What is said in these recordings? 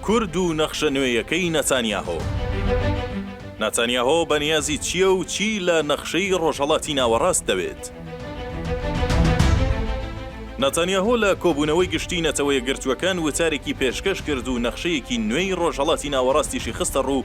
کورد و نەخشە نوێیەکەی نەتانیاهۆ. ناتانیاهۆ بەنیازی چییە و چی لە نەخشەی ڕۆژهەڵاتی ناوەڕاست دەوێت؟ ناتانیاهۆ لە کۆبوونەوەی گشتی نەتەوەیەکگرتووەکان وتارێکی پێشکەش کرد و نەخشەیەکی نوێی ڕۆژهەڵاتی ناوەڕاستیشی خستەڕوو،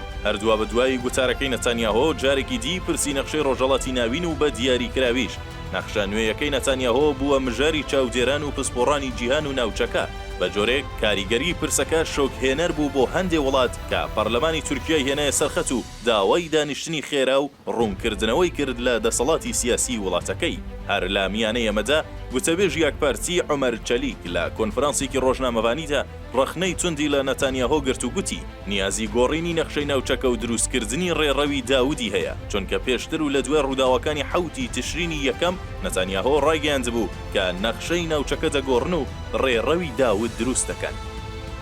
هەر دوابەدوای گوتارەکەی نەتانیاهۆ، جارێکی دی پرسی نەخشەی ڕۆژهەڵاتی ناوین و بە دیاریکراویش نەخشە نوێیەکەی نەتانیاهۆ بووە مژاری چاودێران و پسپۆڕانی جیهان و ناوچەکە، بە جۆرێک کاریگەریی پرسەکە شۆکهێنەر بوو بۆ هەندێ وڵات کە پەرلەمانی تورکیای هێنایە سەر خەت و داوای دانیشتنی خێرا و ڕوونکردنەوەی کرد لە دەسەڵاتی سیاسیی وڵاتەکەی. هەر لە میانەی ئەمەدا، گوتەبێژی ئاکپارتی عومەر چەلیک لە کۆنفرانسێکی ڕۆژنامەڤانیدا، ڕەخنەی توندی لە نەتانیاهۆ گرت و گوتی، نیازی گۆڕینی نەخشەی ناوچەکە و دروستکردنی ڕێڕەوی داودی هەیە، چونکە پێشتر و لە دوای ڕووداوەکانی حەوتی تشرینی یەکەم، نەتانیاهۆ ڕایگەیاندبوو کە نەخشەی ناوچەکە دەگۆڕن و ڕێڕەوی داود دروست دەکەن.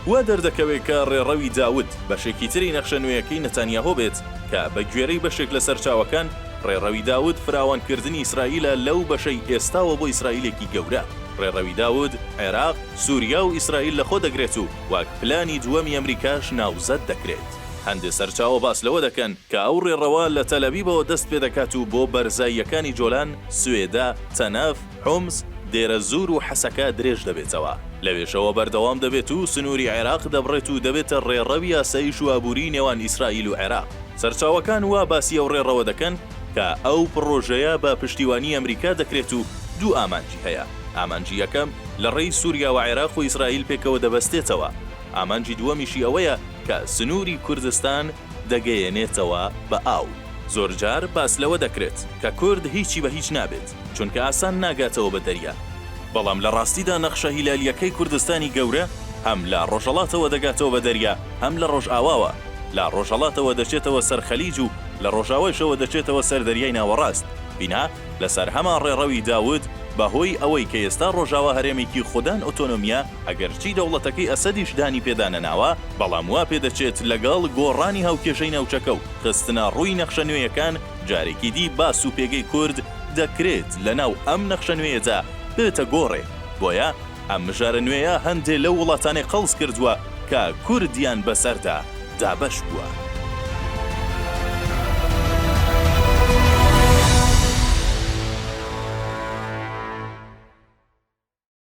وا دەردەکەوێت کە ڕێڕەوی داود، بەشێکی تری نەخشە نوێیەکەی نەتانیاهۆ بێت، کە بە گوێرەی بەشێک لە سەرچاوەکان، ڕێڕەوی داود فراوانکردنی ئیسرائیلە لەو بەشەی ئێستاوە بۆ ئیسرائیلێکی گەورە. ڕێڕەوی داود، عێراق، سوریا و ئیسرائیل لە خۆ دەگرێت و وەک پلانی دووەمی ئەمریکاش ناوزەد دەکرێت. هەندێ سەرچاوە باس لەوە دەکەن کە ئەو ڕێڕەوە لە تەلەبیبەوە دەست پێ دەکات و بۆ بەرزاییەکانی جۆلان، سوێدە، تەنەف، حومس، دێرەزور و حەسەکە درێژ دەبێتەوە. لەوێشەوە بەردەوام دەبێت و سنووری عێراق دەبڕێت و دەبێتە ڕێڕەوی ئاسایش و ئابووریی نێوان ئیسرائیل و عێراق. سەرچاوەکان وا باسی ئەو ڕێڕەوە دەکەن کە ئەو پڕۆژەیە بە پشتیوانیی ئەمریکا دەکرێت و دوو ئامانجی هەیە. ئامانجی یەکەم لە ڕێی سوریا و عێراق و ئیسرائیل پێکەوە دەبەستێتەوە، ئامانجی دووەمیشی ئەوەیە کە سنووری کوردستان دەگەیەنێتەوە بە ئاو. زۆرجار باس لەوە دەکرێت کە کورد هیچی بە هیچ نابێت، چونکە ئاسان ناگاتەوە بە دەریا، بەڵام لە ڕاستیدا نەخشە هیلالییەکەی کوردستانی گەورە هەم لە ڕۆژەڵاتەوە دەگاتەوە بە دەریا، هەم لە ڕۆژئاواوە، لە ڕۆژەڵاتەوە دەچێتەوە سەر خەلیج و لە ڕۆژاوایشەوە دەچێتەوە سەر دەریای ناوەڕاست، بینا. لەسەر هەمان ڕێڕەوی دا وت، بەهۆی ئەوەی کە ئێستا ڕۆژاوا هەرێمێکی خودان ئۆتۆنۆمییە، ئەگەرچی دەوڵەتەکەی ئەسەدیش دانی پێدا نەناوە، بەڵام وا پێ دەچێت لەگەڵ گۆڕانی هاوکێشەی ناوچەکە و خستنە ڕووی نەخشە نوێیەکان، جارێکی دی باس و پێگەی کورد دەکرێت لەناو ئەم نەخشە نوێیەدا بێتە گۆڕێ، بۆیە، ئەم مژارە نوێیە هەندێ لەو وڵاتانەی قەڵس کردووە کە کوردیان بەسەردا دابەش بووە.